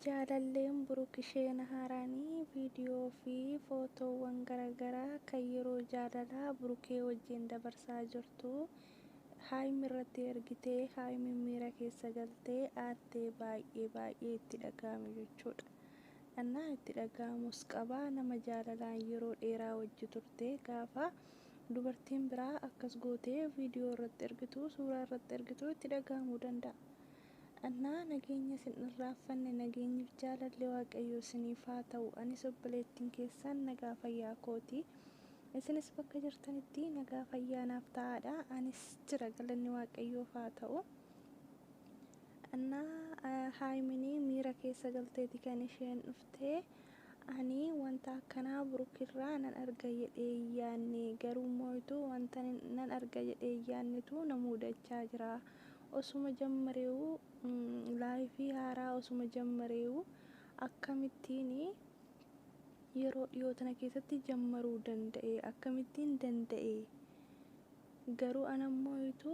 Jaalalleen Buruk isheen haaraan viidiyoo fi footoowwan garagaraa kan yeroo jaalalaa Burukee wajjin dabarsaa jirtu Haayim irratti ergite Haayimiin miira keessa galte aartee baay'ee baay'ee itti dhaga'ame jechuudha. Annaa itti dhaga'amus qaba nama jaalalaan yeroo dheeraa wajji turte gaafa dubartiin biraa akkas gootee viidiyoo irratti ergitu suuraa irratti ergitu itti dhaga'amuu danda'a. Annaa nageenya isin irraanfanne nageenyif jaalalli waaqayyoo isiniif haa ta'u anis obboleettin keessan nagaa fayyaa kooti isinis bakka jirtanitti nagaa fayyaa naaf ta'aadha anis jira galanni waaqayyoof haa ta'u Annaa haayimini miira keessa galteeti kan isheen turte. Ani wanta akkanaa Buruk irraa nan arga jedhee hin yaadne. Garuu immoo utuu wanta nan arga jedhee hin yaadnetu na mudachaa jira. Osuma jammareewuu, laayifii haaraa osuma jammareewuu akkamittiin yeroo dhiyoo tana keessatti jammaruu danda'e? Akkamittiin danda'e? Garuu an ammo itu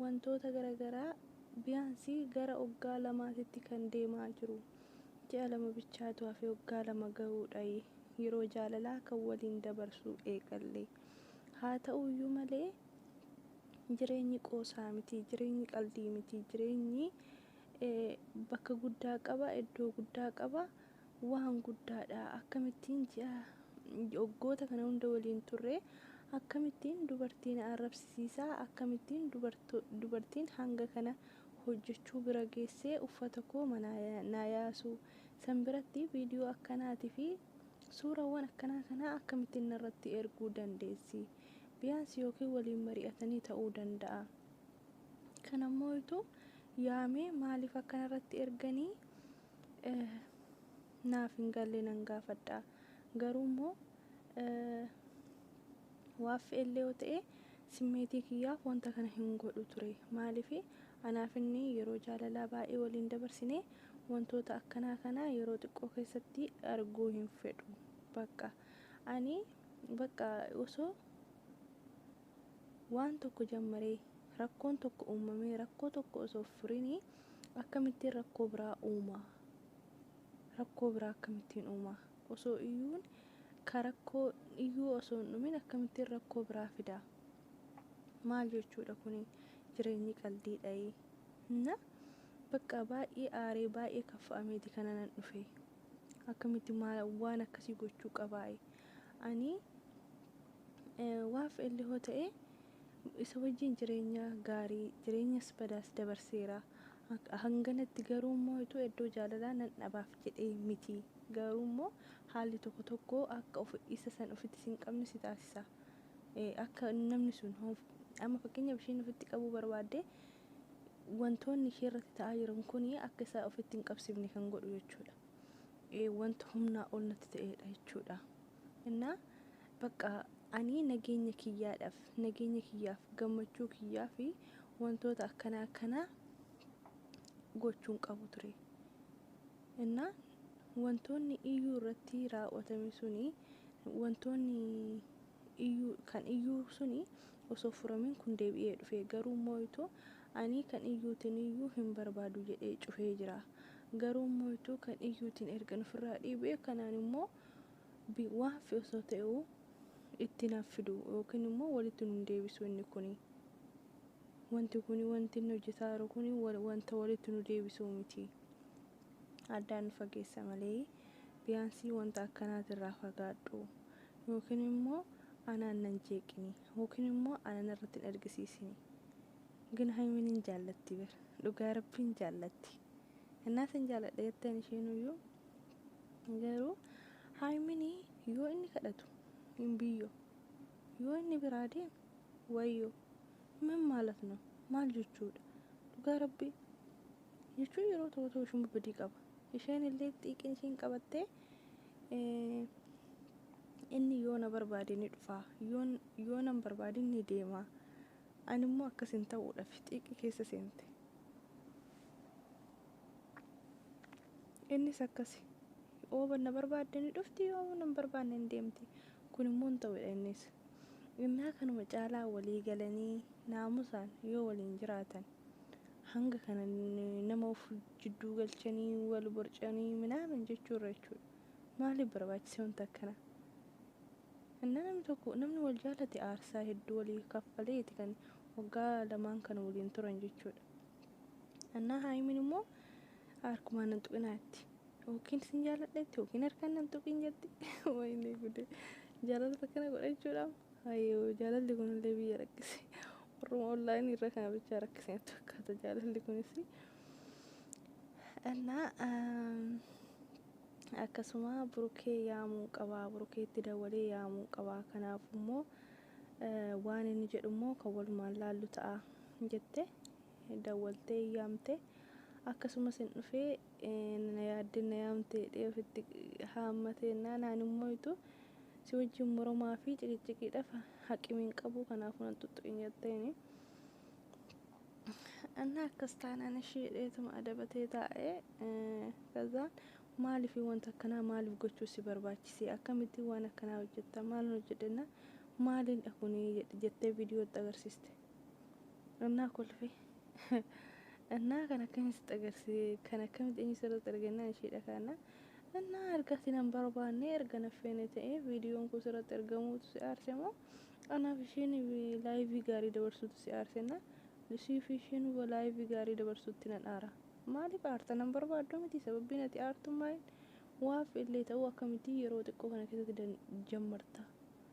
wantoota gara garaa biyaansi gara oggaa lamaatitti kan deemaa jiru ji'a lama bichaatu hafe oggaa lama gahuudhayi yeroo jaalalaa kan waliin dabarsuu eegalle haa ta'uuyyuu malee jireenyi qoosaa miti jireenyi qaldii miti jireenyi bakka guddaa qaba eddoo guddaa qaba waan guddaadha. Akkamittiin ji'a waggoota kana hunda waliin turre, akkamittiin dubartii na arrabsisiisa, akkamittiin dubartiin hanga kana hojjechuu bira geessee uffata koo manaa naa yaasu, san biratti viidiyoo akkanaatii fi suurawwan akkanaa kana akkamittiin narratti erguu dandeessi? Biyaansi yookiin waliin mari'atanii ta'uu danda'a. Kanammoo utuu yaamee maaliif akkanarratti erganii? eh naaf hin galle nan gaafadha garuu immoo eh waaffi illee yoo ta'e simmeetii kiyyaaf wanta kana hin godhu ture maaliif anaaf inni yeroo jaalalaa baay'ee waliin dabarsine wantoota akkanaa kana yeroo xiqqoo keessatti arguu hin fedhu bakka ani bakka osoo Waan tokko jammaree rakkoon tokko uumamee rakkoo tokko osoo hin furinii akkamittiin rakkoo biraa uuma? Rakkoo biraa akkamittiin uuma? Osoo iyyuun ka rakkoo iyyuu osoo hin dhumin akkamittiin rakkoo biraa fida? Maal jechuudha kuni? Jireenyi qaldiidhayi. Na bakka baay'ee aaree baay'ee kaffa'ameeti kananan dhufe. Akkamitti maal waan akkasii gochuu qabaayi? Ani Waaf LHoo ta'ee isa wajjin jireenya gaarii, jireenyas badaas dabarseera. Hanganatti garuu immoo utuu eddoo jaalalaa nan dhabaaf jedhee miti. Garuu immoo haalli tokko tokko akka of isa san ofitti sin qabne si taasisa. Akka namni sun amma fakkeenyaaf ishiin ofitti qabuu barbaadde wantoonni ishee irratti ta'aa jiran kun akka isa ofitti hin qabsifne kan godhu jechuudha. Wanta humnaa ol natti ta'eedha jechuudha. Innaa Baqqa ani nageenya kiyyaadhaf, nageenya kiyyaaf, gammachuu kiyyaaf wantoota akkana akkanaa gochuu hin qabu ture. Innaa wantoonni iyyuu irratti raawwatame suni wantoonni iyyuu kan iyyuu suni osoo furamin kun deebi'ee dhufe garuu immoo ituu ani kan iyyuutiin iyyuu hin barbaadu jedhee cufee jira. Garuu immoo ituu kan iyyuutiin ergan ofirraa dhiibee kanaan immoo B. Waa haffe osoo ta'e'uu itti hin haffidu yookiin immoo wolitti nu hin deebisu inni kuni. Wonti kuni wonti inni hojjataa jiru kuni wonta wolitti nu deebisuu miti. Addaan nu fageessa malee biyaansii wonta akkanaati irraa fagaadhu. Yookiin immoo anaan nan jeeqini. Yookiin immoo ana narratti hin argisiisini. Gina Haymiin hin jaallatti bar. Dhugaa Rabbii hin jaallatti. Hennaa sin jaalladha jetteen isheenuyyuu Garuu Haymini yoo inni kadhatu hin biyyo yoo inni biraa deeme wayyo min maalat no maal jechuudha dhugaa rabbi jechuun yeroo tokko tokko ishuma badii qaba isheen illee xiiqin ishiin qabattee inni yoo na barbaade ni dhufaa yoo nan barbaadin ni deemaa ani immoo akkas hin ta'uudhaaf xiiqi keessa seente Innis akkasi. Yoo na barbaadde ni dhufti, yoo na hin barbaanne ni deemti. Kun immoo hin ta'u jedha innis. Innaa kanuma caalaa walii galanii naamusaan yoo waliin jiraatan hanga kana nama of jidduu galchanii wal borcanii minaamin jechuu irra jechuudha. Maaliif barbaachise wanti akkanaa? Innaa namni tokko namni wal jaalate aarsaa hedduu walii kaffaleeti kan waggaa lamaan kana waliin turan jechuudha. Innaa Haayimiin immoo harkumaa nan tuqinaa itti yookiin sin jaaladha itti yookiin harkaan nan tuqiin jetti wayinee gude jaalalli akkana godha jechuudha hayyoo jaalalli kunillee biyya rakkise warruma onlaayinii irra kana bichaa rakkise natti fakkaata jaalalli kunis እና akkasuma burukee yaamuu qabaa burukeetti dawalee yaamuu qabaa kanaaf immoo waan inni jedhu immoo kan walumaan laallu ta'a jette dawwaltee yaamte akkasumas hin dhufee na yaaddee na yaamte jedhee ofitti haammate jennaan ani immoo itu si wajjin moromaa fi ciqicciqiidhaaf haqimi hin qabu kanaafuu nan tuttuqin jetteeni. Annaa akkas taanaan ishii jedheetuma adabatee taa'e kazaan maaliif wanta akkanaa maaliif gochuu si barbaachisee akkamittiin waan akkanaa hojjetta maalin hojjedhe jennaan maaliin dhakunii jettee viidiyootti agarsiiste. Innaa kolfe. Innaa kan akkamiin sitti agarsiise kan akkamitti eenyu sirratti argannaan ishee dhakaannaa. Innaa argati nan barbaanne erga na feene ta'ee viidiyoon koo sirratti argamuutu si aarse moo anaaf isheen laayivii gaarii dabarsuutu si aarsenna. Lisii fi isheen laayivii gaarii dabarsuutti nan aara. Maaliif aarta nan barbaaddu miti sababbiin ati aartummaan waaf illee ta'uu akkamitti yeroo xiqqoo kana keessatti jammarta.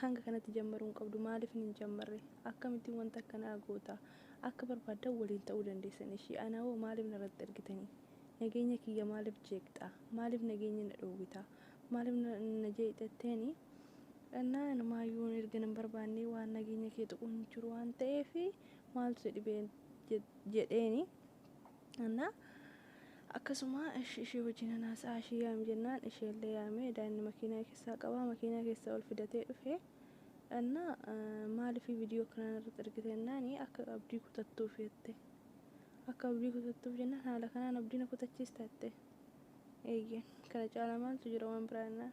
Hanga kanatti jammaruu hin qabdu. Maaliif hin jammarre? Akkamittiin wanta akkanaa goota? Akka barbaaddan waliin ta'uu dandeessan. Ishii ana hoo maaliif narratti ergitanii? Nageenya kiyya maaliif jeeqxaa? Maaliif nageenya na dhoowwita? Maaliif na jeeqxa jetteeni? Dhannaa inumaayyuu erga nan barbaannee waan nageenya kee tuqu hin jiru waan ta'eef maaltu si dhibe? jedheeni. Anna Akkasuma esh ishee wajinan hasa'a ishii yaam jennaan isheellee yaamee daa'imni makiinaa kessaa qabaa makiinaa kessa ol fidatee dhufe Anna maalifi vidiyoo akkanaa narratti ergite jennaani akka abdii kutattuuf jette akka abdii kutattuuf jennaan haala kanaan abdii na kutachiista jette eeyyeen kana caalaa maaltu jira waan biraa jennaan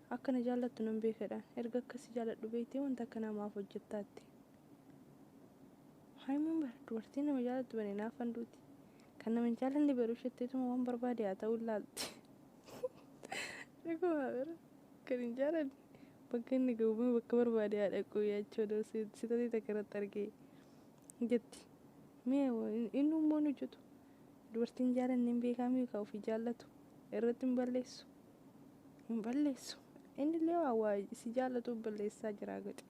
Akka na jaallattu nan beeka jedhaan. Erga akka si jaalladhu beektee wanta akkanaa maaf hojjetta? jette. Haayimoon bara dubartiin nama jaallattu bane naafan duuti. Kan nama hin jaallanne garuu shetteetuma waan barbaade haa ta'uu laalti. Dhugumaa bara kan hin jaallanne bakka inni ga'uuma bakka barbaade haa dhaquu yaachoo doo sitatii takka irratti argee jetti. Mee inni ummoo hin hojjetu. Dubartiin jaallanne hin beekaa miikaa ofii jaallatu irratti hin balleessu. hin balleessu inni illee waa waa si jaallatuuf balleessaa jiraa godhe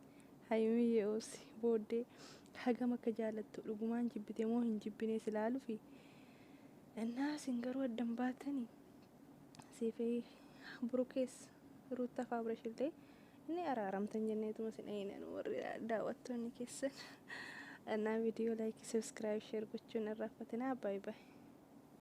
hayimiyyee obsi booddee hagam akka jaallattu dhugumaan jibbite moo hin jibbinee si laalufi innaa isin garuu addan baatani siifee burukees ruutta faabrash illee inni araaramtan jenneetuma sin eeynan warri daawwattoonni keessan innaa viidiyoo laayikii sabskiraayib sheer gochuun irraaffatinaa baay baay